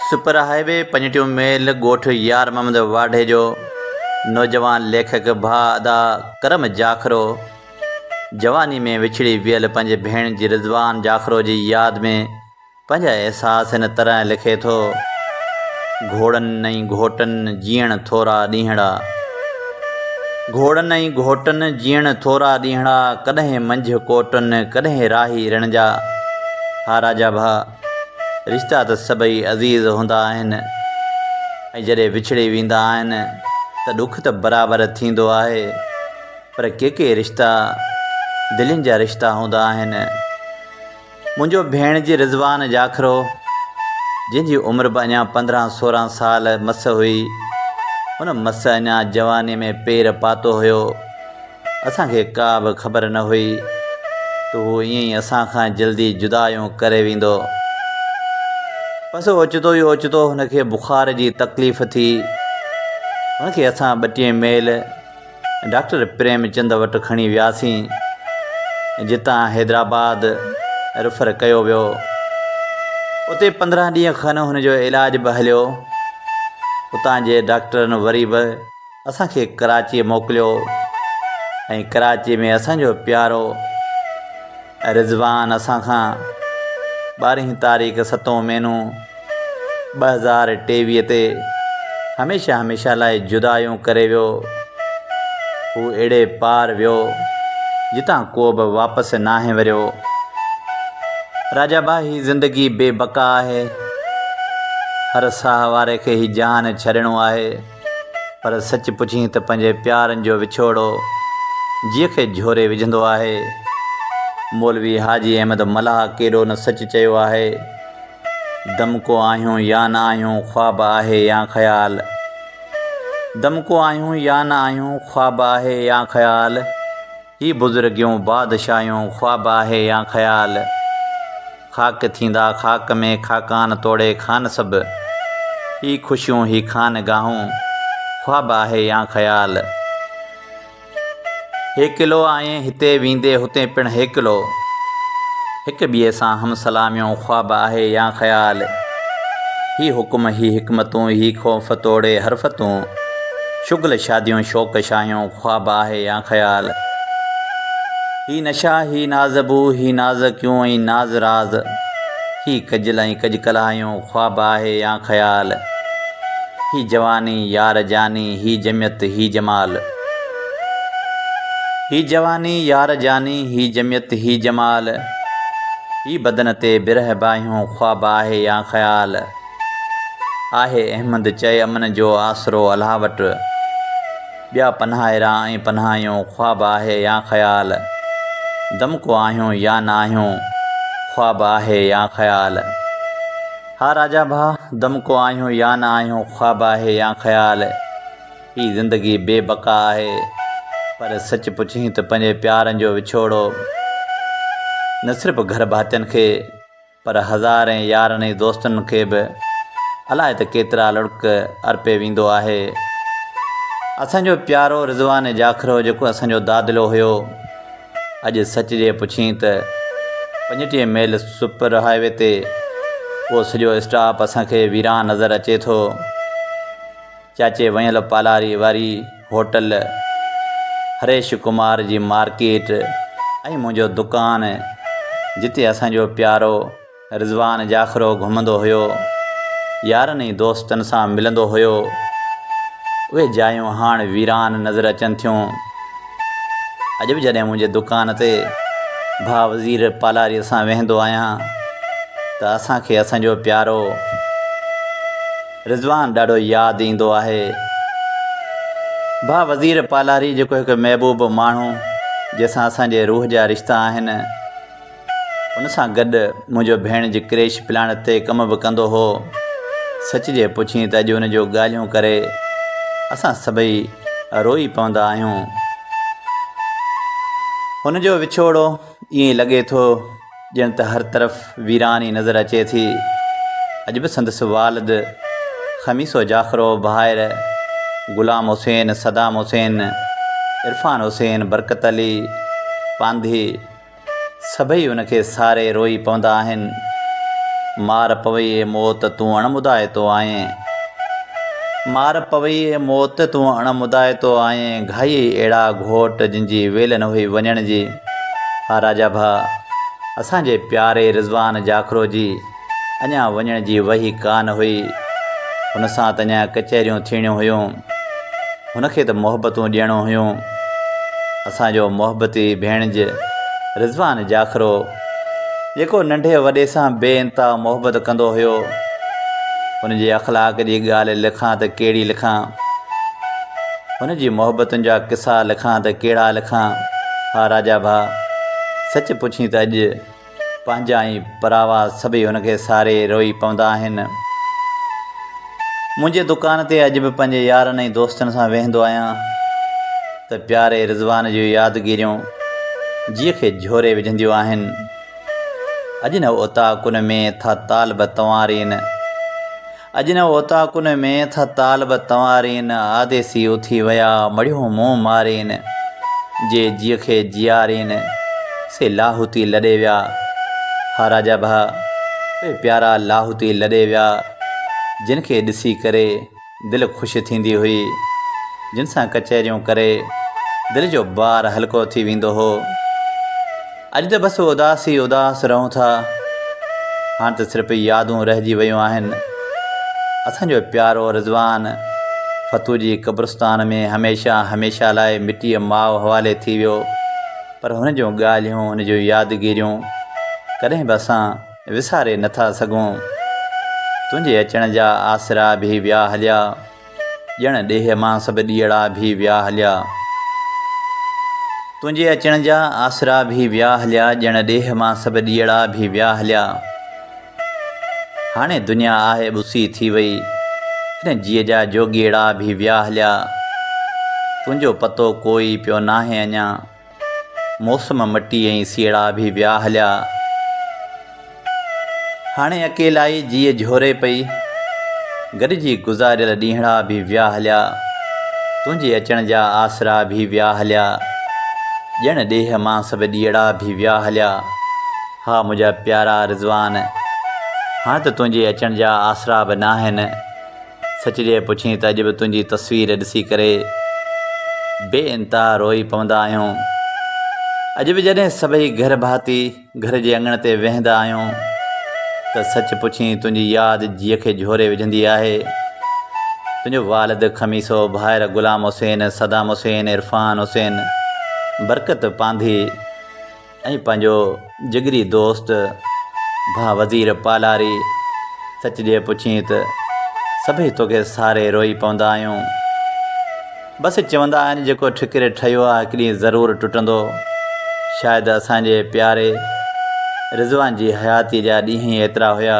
Super high V پنجٽيون mile ڳوٺ يار محمد واڍي جو نوجوان ليکڪ ڀاء ادا ڪرم جاکرو جواني ۾ وڇڙي ويل پنهنجي ڀيڻ جي رضوان جاکرو جي ياد ۾ پنهنجا احساس هن طرح لکي ٿو گهوڙن ۽ گهوٽن جيئڻ ٿورا ڏينهڙا. گهوڙن ۽ گهوٽن جيئڻ ٿورا ڏينهڙا ڪڏهن منجهه ڪوٽن ڪڏهن راهي رڻ جا ها راجا ڀاء رشتا ته سڀئي عزيز هوندا آهن ۽ جڏهن وڇڙي ويندا آهن ته ڏک ته برابر ٿيندو آهي پر ڪي ڪي رشتا دلين جا رشتا هوندا آهن منهنجو ڀيڻجي رضوان جاکرو جنهن جي عمر به اڃا پندرهن سورهن سال مس هئي ان مس اڃا جواني ۾ پير پاتو هيو اسان کي ڪا به خبر نه هئي ته هو ائين ئي اسان کان جلدي جدايون ڪري ويندو بس اوچتو ئي اوچتو هن کي بخار جي تڪليف ٿي هن کي اسان ٻٽيهه ميل ڊاڪٽر پريمچند وٽ کڻي وياسين، جتان حيدرآباد ريفر ڪيو ويو. اتي پندرهن ڏينهن کن هن جو علاج به هليو. اتان جي ڊاڪٽرن وري به اسان کي ڪراچيء موڪليو ۽ ڪراچيء ۾ اسان جو پيارو. رضوان اسان کان ٻارهين تاريخ ستون مهينو ٻه هزار ٽيويهه تي هميشه هميشه لاء جدايون ڪري ويو هو اهڙي پار ويو جتان ڪو به واپس ناهي وريو راجا با هي زندگي بي بقا آهي هر ساهه واري کي هي جهان ڇڏڻو آهي پر سچ پڇين ته پنهنجي پيارن جو وڇوڙو جيء کي جهوري وجهندو آهي. مولوي حاجي احمد ملاح ڪيڏو نه سچ چيو آهي. دمڪو آهيون يا نه آهيون خواب آهي يا خيال. دمڪو آهيون يا نه آهيون خواب آهي يا خيال. هي بزرگيون بادشاهيون خواب آهي يا خيال؟ خاڪ ٿيندا خاڪ ۾ خاقان توڙي خان سڀ. هي خوشيون هي خانگاهون خواب آهي يا خيال؟ هيڪلو آئين هتي ويندي هتي پڻ هيڪلو. هڪ ٻئي سان هم سلاميون خواب آهي يا خيال؟ هي حڪم هي حڪمتون هي خوف توڙي حرفتون. شغل شاديون شوق شاهيون خواب آهي يا خيال هي نشا هي ناز بو هي ناز ڪيون ۽ ناز راز هي ڪجل ۽ ڪج ڪلاهيون خواب آهي يا خيال هي جواني يار جاني هي جميت هي جمال هي جواني يار جاني هي جميت هي جمال هي بدن تي برهه باهيون خواب آهي يا خيال. آهي احمد چئي امن جو آسرو الله وٽ ٻيا پنهائرا ۽ پنهايون خواب آهي يا خيال دمڪو آهيون يا نه آهيون خواب آهي يا خيال ها راجا ڀاء دمڪو آهيون يا نه آهيون خواب آهي يا خيال هي زندگي بي بقا آهي پر سچ پڇين ته پنهنجي پيارن جو وڇوڙو نه صرف گهر ڀاتين کي پر هزارين يارن ۽ دوستن کي به الائي ته ڪيترا لڙڪ ارپي ويندو آهي. اسان جو پيارو رضوان جاکرو جيڪو اسان جو دادلو هيو، اڄ سچ جي پڇين ته پنجٽيهه ميل سپر هاء وي تي اهو سڄو اسٽاپ اسان کي ويران نظر اچي ٿو. چاچي ويل پالاري واري هوٽل، هريش ڪمار جي مارڪيٽ ۽ منهنجو دڪان جتي اسان جو پيارو رضوان جاکرو گهمندو هيو، يارن ۽ دوستن سان ملندو هيو، اهي جايون هاڻ ويران نظر اچن ٿيون. اڄ به جڏهن منهنجي دڪان تي ڀاء وزير پالاري سان ويهندو آهيان ته اسان کي اسان جو پيارو. رضوان ڏاڍو ياد ايندو آهي ڀا وزير پالاري جيڪو هڪ محبوب ماڻهو جنهن سان اسان جي روح جا رشتا آهن ان سان گڏ منهنجو ڀيڻ جي ڪريش پلانٽ تي ڪم به ڪندو هو سچ جي پڇين ته اڄ ان جو ڳالهيون ڪري اسان سڀئي روئي پوندا آهيون هن جو وڇوڙو ائين لڳي ٿو ڄڻ ته هر طرف ويراني نظر اچي ٿي. اڄ به سندس والد خميسو جاخرو، ڀائر غلام حسين، صدام حسين، عرفان حسين، برڪت علي، پانڌي سڀئي ان کي ساري روئي پوندا آهن. مار پوئي اي موت تون اڻ مدائتو آئين. مار پوئي اي موت تون اڻ مدائتو آئين. گهائي اهڙا گهوٽ جن جي ويل نه هئي وڃڻ جي. ها راجا ڀاء، اسان جي پياري رضوان جاکرو جي اڃا وڃڻ جي وهي ڪا نه هئي. هن سان ته اڃا ڪچهريون ٿيڻيون هيون. هن کي ته محبتون ڏيڻو هيون. اسان جو محبتي ڀيڻج رضوان جاکرو، جيڪو ننڍي وڏي سان بي انتها محبت ڪندو هيو، ان جي اخلاق جي ڳالهه لکان ته ڪهڙي لکان. هن جي محبتن جا قصا لکان ته ڪهڙا لکان؟ ها راجا ڀاء، سچ پڇين ته اڄ پنهنجا ۽ پراوا سڀئي هن کي ساري روئي پوندا آهن. منهنجي دڪان تي اڄ به پنهنجي يارن ۽ دوستن سان ويهندو آهيان ته پياري رضوان جون يادگيريون جيء کي جهوري وجهنديون آهن. اڄ نه اوطاقن ۾ ٿا طالب تنوارين. اڄ نه اوطاقن ۾ ٿا طالب تنوارين، آديسي اٿي ويا مڙهيون منهن مارين، جي جيء کي جيارين، سي لاهوتي لڏي ويا، ها راجا ڀاء، اهي پيارا لاهوتي لڏي ويا، جن کي ڏسي ڪري دل خوش ٿيندي هئي، جن سان ڪچهريون ڪري دل جو بار هلڪو ٿي ويندو هو. اڄ ته بس اداس ئي اداس رهون ٿا. هاڻ ته صرف يادون رهجي ويون آهن. اسان جو پيارو رضوان فتوح جي قبرستان ۾ هميشه هميشه لاء مٽيء ماء حوالي ٿي ويو. پر هن جون ڳالهيون، هن جون يادگيريون ڪڏهن به اسان وساري نه ٿا سگهون. تنهنجي اچڻ جا آسرا به ويا هليا. ڄڻ ڏيهه مان سڀ ڏيئڙا ڀي ويا هليا. تنهنجي اچڻ جا آسرا ڀي ويا هليا ڄڻ ڏيهه مان سڀ ڏيئڙا ڀي ويا هليا. هاڻي دنيا آهي ٻسي ٿي وئي هن جيء جا جوڳيئڙا ڀي ويا هليا. تنهنجو پتو ڪوئي پيو ناهي اڃان. موسم مٽي ۽ سيئڙا به ويا هليا. هاڻي اڪيلائي جيء جهوري پئي. گڏجي گذاريل ڏينهڙا به ويا هليا. تنهنجي اچڻ جا آسرا به ويا هليا. ڄڻ ڏيهه مان سڀ ڏيئڙا به ويا هليا. ها منهنجا پيارا رضوان! هاڻ ته تنهنجي اچڻ جا آسرا به ناهن. سچ جي پڇين ته اڄ به تنهنجي تصوير ڏسي ڪري بي انتها روئي پوندا آهيون. اڄ به جڏهن سڀئي گهر ڀاتي گهر جي اڱڻ تي ويهندا آهيون ته سچ پڇين تنهنجي ياد جيء کي جهوري وجهندي آهي. تنهنجو والد خميسو، ڀائر غلام حسين، صدام حسين، عرفان حسين، برڪت پانڌي، ۽ پنهنجو جگري دوست ڀاء وزير پالاري سچ جي پڇين ته سڀئي توکي ساري روئي پوندا آهيون بس چوندا آهن جيڪو ٺڪري ٺهيو آهي هڪ ڏينهن ضرور ٽٽندو شايد اسان جي پياري رضوان جي حياتي جا ڏينهن ئي ايترا هيا